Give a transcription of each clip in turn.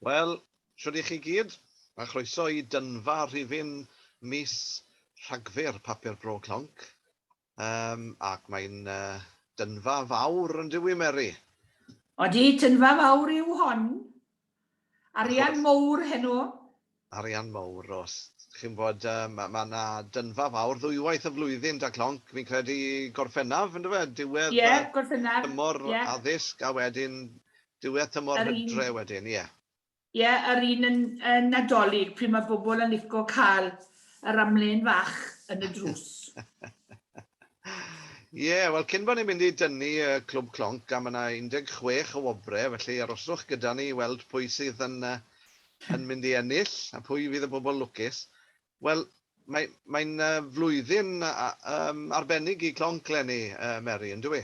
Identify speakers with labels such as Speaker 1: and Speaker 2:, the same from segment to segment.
Speaker 1: Wel, shwd i chi gyd, a chroeso i dynfa rhifyn mis Rhagfyr Papur Bro Clonc. Um, ac mae'n uh, dynfa fawr yn dywi, Mary? Odi,
Speaker 2: tynfa fawr yw hon. Arian mowr heno. Arian
Speaker 1: mowr, Rhos. Chi'n gwybod, mae yna dynfa fawr ddwywaith y flwyddyn 'da Clonc, fi'n credu Gorffennaf, yn dyw e? Diwedd y... Ie, Gorffennaf. ...tymor
Speaker 2: addysg
Speaker 1: a wedyn diwedd tymor hydre wedyn, ie. Ie, yr
Speaker 2: un yn Nadolig, pryd mae bobl yn lico cael yr amlên fach yn y drws.
Speaker 1: Ie, wel cyn bo ni'n mynd i dynnu y Clwb Clonc am yna 16 o wobre, felly aroswch gyda ni i weld pwy sydd yn yn mynd i ennill a phwy fydd y bobl lwcus. Wel, mae mae'n yy flwyddyn a- yym arbennig i Clonc 'leni yy Meri, yndyw i?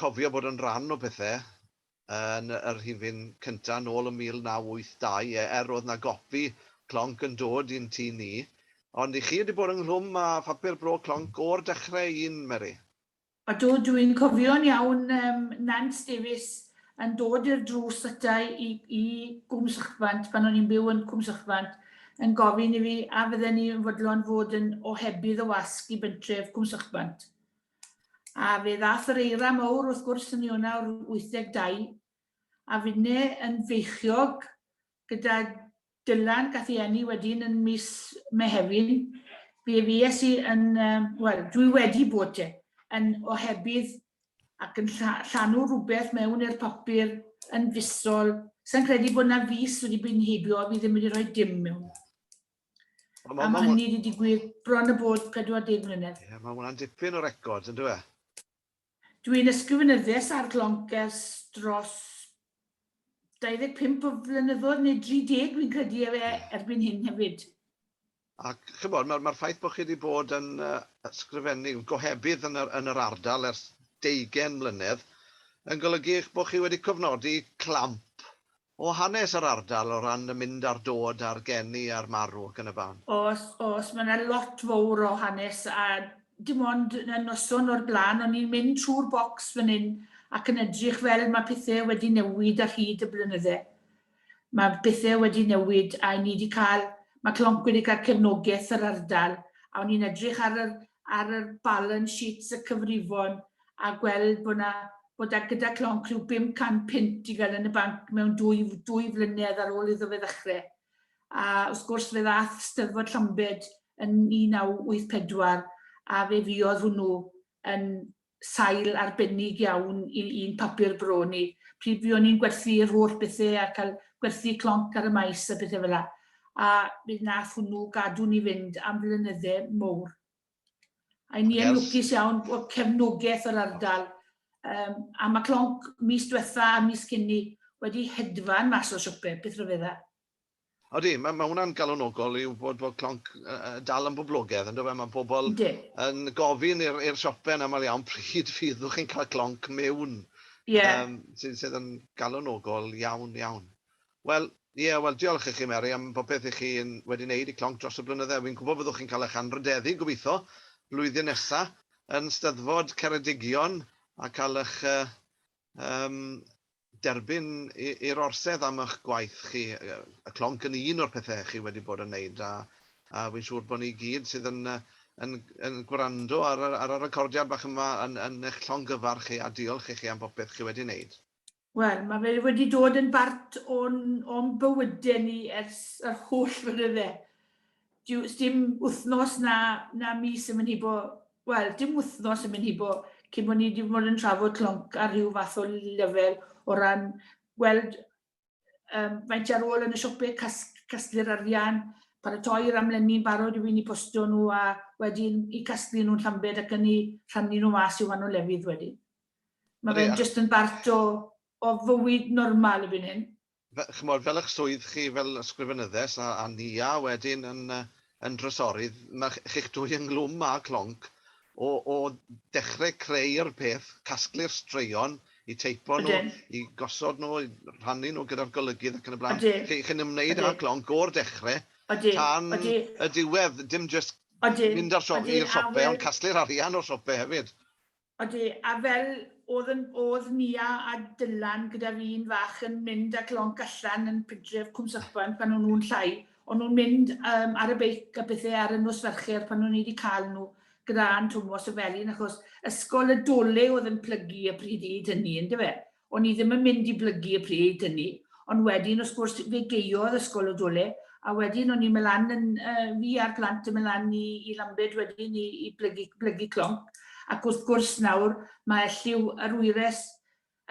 Speaker 1: cofio bod yn rhan o pethau yn y rhifyn cyntaf yn ôl yn 1982, ie, er oedd 'na gopi clonc yn dod i'n tŷ ni. Ond i chi wedi bod ynghlwm â phapur bro clonc o'r dechrau un, Mary? Ydw, dw
Speaker 2: i'n cofio'n iawn yym Nant Davies yn dod i'r drws ata i i Gwm Sychbant, pan o'n i'n byw yn Cwm Sychbant, yn gofyn i fi a fydden ni yn fodlon fod yn ohebydd o wasg i bentref Cwm Sychbant. A fe ddaeth yr eira mowr wrth gwrs yn 1982, a finne yn feichiog gyda Dylan gath ei eni wedyn yn mis Mehefin, fe fues i yn, wel, dwi wedi bod te, yn ohebydd ac yn llanw rhywbeth mewn i'r papur yn fisol, sai'n credu bod 'na fis wedi bod yn heibio a fi ddim wedi rhoi dim mewn. A mae hynny wedi digwydd bron y bod 40 mlynedd. Ie, mae hwnna'n dipyn o
Speaker 1: record, yn dweud? Dwi'n
Speaker 2: ysgrifenyddias ar Glonkers dros 25 o flynyddoedd neu 30 fi'n credu e fe erbyn hyn hefyd. Ac
Speaker 1: chi'n bod, mae'r mae ffaith bod chi wedi bod yn uh, ysgrifennu gohebydd yn yr, yn yr ardal ers deugen mlynedd yn golygu eich bod chi wedi cofnodi clamp O hanes yr ardal o ran y mynd a'r dod a'r geni a'r marw ac yn y ban. Oes, oes, mae yna
Speaker 2: lot fowr o hanes a dim ond y noson o'r blaen o'n i'n mynd trwy'r bocs fan hyn ac yn edrych fel mae pethe wedi newid ar hyd y blynydde. Mae bethe wedi newid a 'yn ni 'di cael, mae Clonc wedi cael cefnogeth yr ardal a o'n i'n edrych ar yr ar yr balance sheets y cyfrifon a gweld bod 'na, bod e gyda clonc rhyw 500 punt i gael yn y banc mewn dwy, dwy flynedd ar ôl iddo fe ddechrau. A wrth gwrs fe ddath Steddfod Llambed yn 1984 a fe fuodd hwnnw yn sail arbennig iawn i un papur bro ni. Pryd fuon ni'n gwerthu yr holl bethau a cael gwerthu clonc ar y maes a bethau fel yna. A bydd nath hwnnw gadw ni fynd am flynyddau mowr. A ni yn lwcus iawn o cefnogaeth yr ardal. Um, a mae clonc mis diwetha a mis cynni wedi hedfan mas o siopau, beth rhyfedda. Odi,
Speaker 1: mae, mae hwnna'n galonogol i wybod bod clonc uh, dal yn boblogedd, ynddo fe? Mae pobl De. yn gofyn i'r siopau yn aml iawn pryd fyddwch chi'n cael clonc mewn. Yeah. Um, sydd, sydd yn galonogol iawn, iawn. Wel, ie, wel, diolch i chi, Mary, am bopeth i chi yn wedi neud i Clonc dros y blynydde. Wi'n gwbo fyddwch chi'n cael eich anrhydeddu, gobitho, blwyddyn nesa, yn Steddfod Ceredigion, a cael eich yym derbyn i i'r Orsedd am ych gwaith chi. Y Clonc yn un o'r pethe chi wedi bod yn neud, a a wi'n siŵr bo ni gyd sydd yn yn yn gwrando ar y ar y recordiad bach yma yn yn eich llongyfarch chi, a diolch i chi am bopeth chi wedi neud. Wel, mae fe
Speaker 2: wedi dod yn bart o'n, o'n bywyde ni ers yr holl flynydde. Dyw, sdim wythnos na, na mis yn mynd hibo, wel, dim wythnos yn mynd hibo cyn bod ni wedi bod yn trafod clonc ar rhyw fath o lefel o ran gweld um, faint ar ôl yn y siopau, cas, casglu'r arian, paratoi'r amlenni'n barod i fi'n i postio nhw a wedyn i casglu nhw'n llambed ac yn i rhannu nhw mas i wahanol lefydd wedyn. Mae fe'n jyst yn bart o o fywyd normal erbyn hyn. Ch'mod fel ych
Speaker 1: swydd chi fel ysgrifenyddes a a Nia wedyn yn yy yn drysorydd ma' chi'ch dwy ynghlwm â clonc o o dechre creu'r peth, casglu'r straeon, i teipo nhw, i gosod nhw, i rhannu nhw gyda'r golygydd ac yn y blaen. Odi. Chi chi'n ymwneud â clonc o'r dechre tan y diwedd, dim jyst mynd â'r siop i'r siope ond casglu'r arian o'r siope hefyd. Odi, a
Speaker 2: fel o'dd yn o'dd Nia a Dylan gyda'r un fach yn mynd ac lonc allan yn pydref Cwm Serpent pan o'n nhw'n llai, o'n nhw'n mynd yym ar y beic a pethe ar y nos Fercher pan o'n i 'di ca'l nhw gyda Ann Twmos y felin achos ysgol y Dole o'dd yn plygu y pryd hyd hynny yndyfe? O'n i ddim yn mynd i blygu y pryd hynny, ond wedyn wrth gwrs fe geiodd ysgol o dole, a wedyn o'n i'n mynd lan yn, yy, fi a'r plant yn mynd lan i, i Lambed wedyn i, i blygu, blygu clonc, ac wrth gwrs nawr mae elliw yr wyres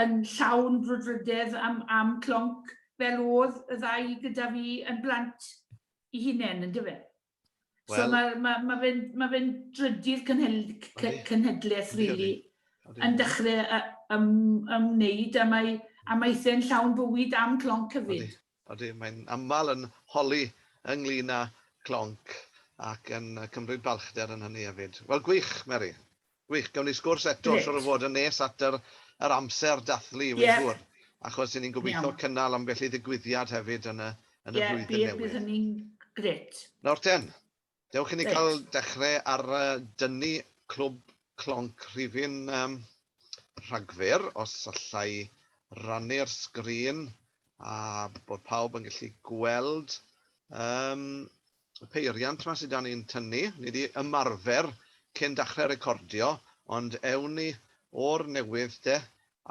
Speaker 2: yn llawn brwdfrydedd am, am clonc fel o'dd y ddau gyda fi yn blant 'i hunen, yndyfe? Well, so mae ma, ma fe'n ma fe drydydd cynhedlaeth, really, yn dechrau ym, ymwneud a mae amaethau'n llawn bywyd am clonc cyfyd. Odi, mae'n
Speaker 1: aml yn holi ynglyn â clonc ac yn cymryd balchder yn hynny hefyd. Wel, gwych, Mary. Gwych, gawn ni sgwrs eto Grêt. siŵr o fod yn nes at yr yr amser dathlu wi'n Ie. siŵr, achos 'yn ni'n gobeithio Iawn. cynnal ambell i ddigwyddiad hefyd yn y yn y Ie, flwyddyn bydd, newydd. bydd hynny'n
Speaker 2: grêt. Nawr ten,
Speaker 1: dewch i ni Reit. cael dechre ar yy dynnu Clwb Clonc Rhifyn yym Rhagfyr, os alla i rannu'r sgrin a bod pawb yn gallu gweld yym y peiriant 'ma sy 'da ni'n tynnu, ni 'di ymarfer cyn dachre recordio, ond ewn ni o'r newydd de,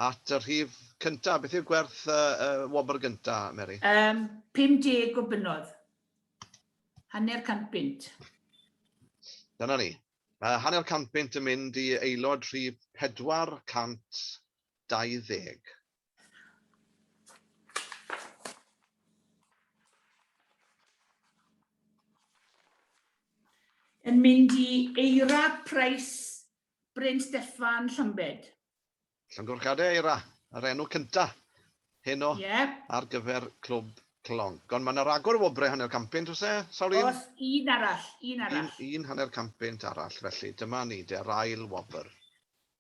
Speaker 1: at y rhif cynta, beth yw gwerth y wobr gynta, Mary? Yym,
Speaker 2: 50 o bunnoedd. Hanner cant bunt.
Speaker 1: Dyna ni. Mae hanner cant bunt yn mynd i aelod rhif 420.
Speaker 2: Yn mynd i Eira Price, Bryn Steffan, Llambed. Llongyfarchiadau
Speaker 1: Eira, yr enw cyntaf heno yeah. ar gyfer Clwb Clonc. Ond mae yna ragor o wobrau hanner campynt, os e? Sawl un? Os un arall, un
Speaker 2: arall. Un, un
Speaker 1: hanner campynt arall, felly dyma ni, de'r ail wobr.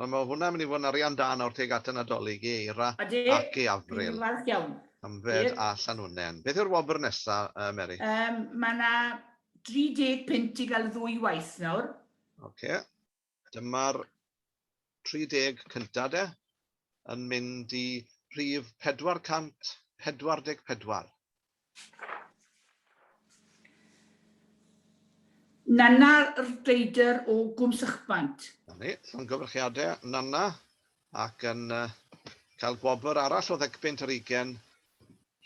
Speaker 1: Wel, mae hwnna'n mynd i fod yn arian da nawr tuag at y Nadolig i Eira ac i Avril. Dwi'n falch iawn.
Speaker 2: Canfed a
Speaker 1: Llanwnnen. Beth yw'r wobr nesa, Mary? Yym, mae yna 30
Speaker 2: punt i gael ddwy waith nawr. Ocê. Dyma'r
Speaker 1: 30 cynta de, yn mynd i rhif 444.
Speaker 2: Nanna Rhyder o Gwm Sychbant. Na ni, llongyfarchiade
Speaker 1: Nanna, ac yn cael gwobr arall o Ddegbynt yr Ugen,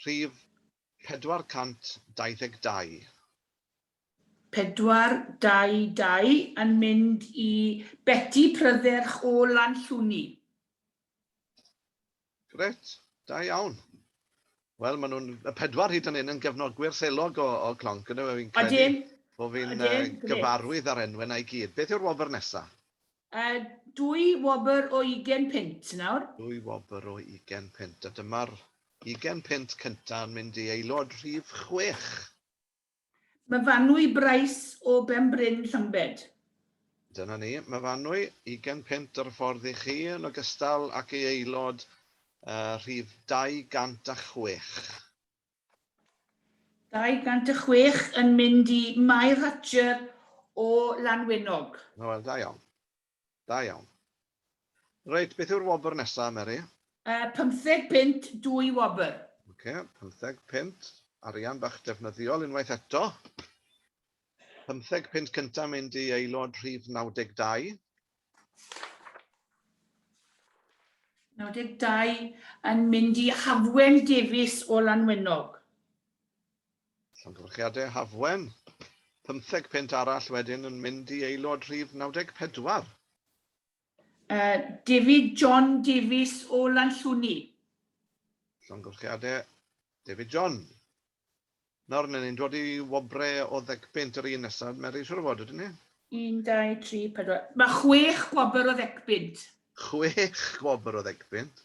Speaker 1: rhif 422.
Speaker 2: 422 yn mynd i Beti Prydderch o Lanllwni.
Speaker 1: Grêt, da iawn. Wel, maen nhw'n, y pedwar hyd yn hyn, yn gefnogwyr selog o, o Clonc, ydyn nhw? Fi'n credu Odyn. bod fi'n uh, Odyn, grêt. gyfarwydd â'r enwau 'na i gyd. Beth yw'r wobr nesa? Uh,
Speaker 2: dwy wobr o ugen punt nawr. Dwy wobr o
Speaker 1: ugen punt, a dyma'r ugen punt cynta yn mynd i aelod rhif chwech.
Speaker 2: Myfanwy Bryce o Benbryn Llambed. Dyna
Speaker 1: ni, Myfanwy, ugain punt ar y ffordd i chi, yn ogystal ac ei aelod rhif 206. 206
Speaker 2: yn mynd i Mair Hatcher o Lanwenog. Wel, da iawn.
Speaker 1: Da iawn. Reit, beth yw'r wobr nesa, Meri? Yy, pymtheg
Speaker 2: punt, dwy wobr. Oce, pymtheg
Speaker 1: punt. Arian bach defnyddiol unwaith eto. Pymtheg punt cynta mynd i aelod rhif 92. 92
Speaker 2: yn mynd i Hafwen Davies o Lanwenog. Llongyfarchiadau
Speaker 1: Hafwen. Pymtheg punt arall wedyn yn mynd i aelod rhif 94. David
Speaker 2: John Davies o Lanllwni.
Speaker 1: Llongyfarchiadau
Speaker 2: David John.
Speaker 1: Nawr, ry'n ni'n dod i wobrau o ddegpunt yr un nesaf, Mary, siŵr o fod, ydyn ni? Un, dau,
Speaker 2: tri, pedwar. Mae chwech gwobr o ddegpunt. Chwech
Speaker 1: gwobr o ddegpunt.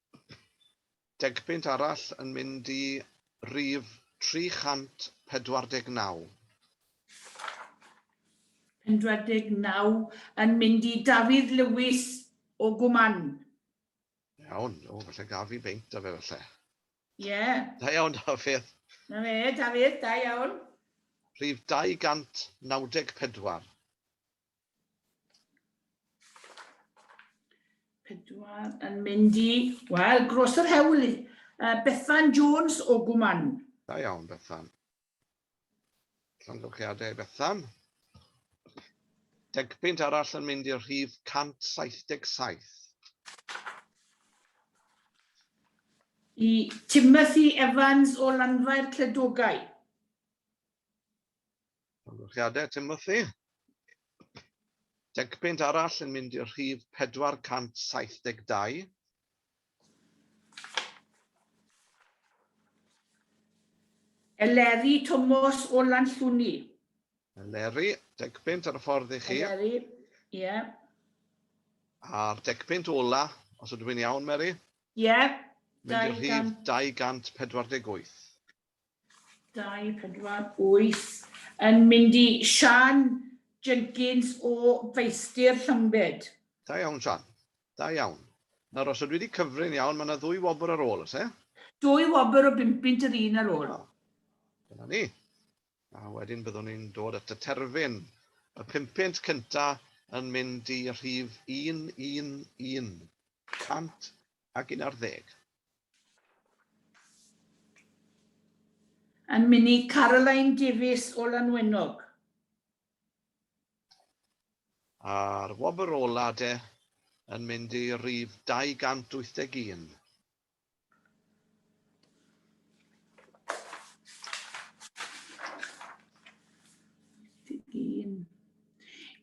Speaker 1: Degpunt arall yn mynd i rhif 349. Pedwar deg naw
Speaker 2: yn mynd i Dafydd Lewis o Gwmann.
Speaker 1: Iawn, o falle gaf fi beint da fe falle. Ie.
Speaker 2: Da iawn
Speaker 1: Dafydd. Na fe, Dafydd,
Speaker 2: da iawn. Rhif
Speaker 1: 294.
Speaker 2: Pedwar yn mynd i, wel, gros yr hewl i, uh, Bethan Jones o Gwman. Da iawn, Bethan.
Speaker 1: Llongyflliadau, Bethan. Degpunt arall yn mynd i'r rhif 177.
Speaker 2: I Timothy Evans o Lanfair Cledogau.
Speaker 1: Llongyfarchiadau, Timothy. Decpunt arall yn mynd i'r rhif 472.
Speaker 2: Eleri Tomos o Lanllwni. Eleri,
Speaker 1: decpunt ar y ffordd i chi. Eleri, ie.
Speaker 2: Yeah.
Speaker 1: A'r decpunt ola, os ydw i'n iawn, Mary? Ie. Yeah. Mynd i'r rhif 248. Dau,
Speaker 2: pedwar, wyth. Yn mynd i Siân Jenkins o Feistr Llambed. Da iawn Siân.
Speaker 1: Da iawn. Nawr os ydw i wedi cyfri'n iawn mae yna ddwy wobr ar ôl, oes e? Dwy wobr o
Speaker 2: bum punt yr un ar ôl. Dyna ni.
Speaker 1: A wedyn byddwn ni'n dod at y terfyn. Y pum punt cyntaf yn mynd i rhif 111. ac un ar ddeg.
Speaker 2: Yn mynnu Caroline Davies o Lanwenog.
Speaker 1: A'r wobr ola' de, yn mynd i rif 281.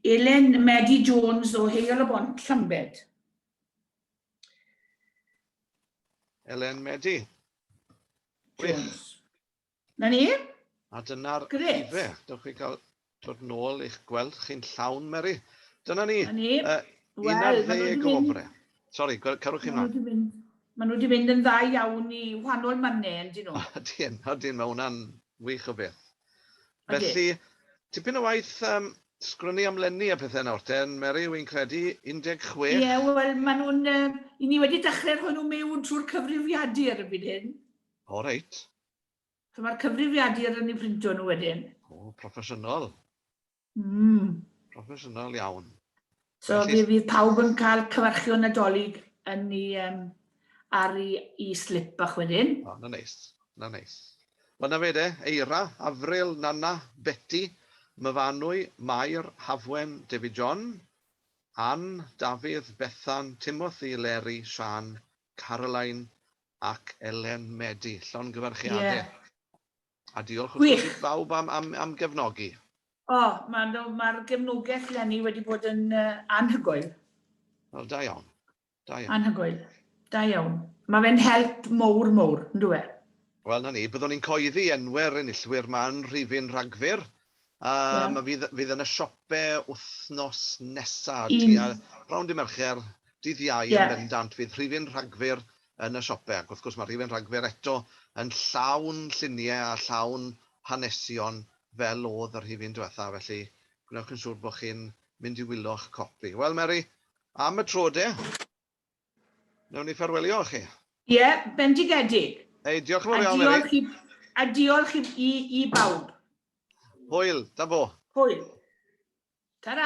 Speaker 2: Elen Medi Jones o Heol-y-bont, Llambed.
Speaker 1: Elen Medi. Jones.
Speaker 2: Na ni? A dyna'r
Speaker 1: ife. Dewch chi
Speaker 2: gael
Speaker 1: dod nôl i'ch gweld chi'n llawn, Mary. Dyna ni. Dyna
Speaker 2: ni. Uh, Wel, maen
Speaker 1: nhw wedi mynd... Sorry, carwch chi mlaen.
Speaker 2: Maen nhw wedi mynd yn dda iawn i wahanol
Speaker 1: mannau, yn dyn nhw. Ydyn, ydyn, mae hwnna'n wych o beth. Felly, tipyn o waith yym sgwennu am lenni a pethe nawr te, Mary, wi'n credu, 16? Ie, wel, maen
Speaker 2: nhw'n yy... 'yn ni wedi dechrau rhoi nhw mewn trwy'r cyfrifiadur erbyn hyn. O, reit.
Speaker 1: So mae'r
Speaker 2: cyfrifiadur yn eu printo nhw wedyn. O, proffesiynol.
Speaker 1: Mm. Proffesiynol iawn. So Felly... fe
Speaker 2: fydd pawb yn cael cyfarchio nadolig yn ni um, ar i, i slip bach wedyn. O, oh, na neis,
Speaker 1: na neis. Wel na fe de, Eira, Afril, Nana, Betty, Myfanwy, Mair, Hafwen, David John, Ann, Dafydd, Bethan, Timothy, Leri, Sian, Caroline ac Elen Medi. Llongyfarchiadau. Yeah. A diolch wrth gwrs i bawb am, am, am gefnogi. O, oh,
Speaker 2: mae'r ma gefnogaeth lenni wedi bod yn uh, anhygoel. Wel,
Speaker 1: da iawn. Da iawn. Anhygoel. Da
Speaker 2: iawn. Mae fe'n help mowr mowr, yn dwi e? Wel, na ni, byddwn
Speaker 1: ni'n coeddi enwau'r enillwyr ma'n rhifyn rhagfyr A ma fydd fydd yna siope wthnos nesa tua rownd dy Mercher, dydd Iau yn bendant fydd rhifyn Rhagfyr yn y siope ac wrth gwrs ma rhifyn Rhagfyr eto yn llawn llunie a llawn hanesion fel odd y rhifyn dwetha felly gwnewch yn siwr bo chi'n mynd i wylo'ch copi. Wel Meri, am y tro de! Nawn ni ffarwelio â chi. Ie,
Speaker 2: bendigedig. Hei, diolch yn fawr iawn,
Speaker 1: Mary. A diolch i, a
Speaker 2: diolch i,
Speaker 1: i, i
Speaker 2: bawb. Hwyl,
Speaker 1: da bo.
Speaker 2: Hwyl. Ta-ra.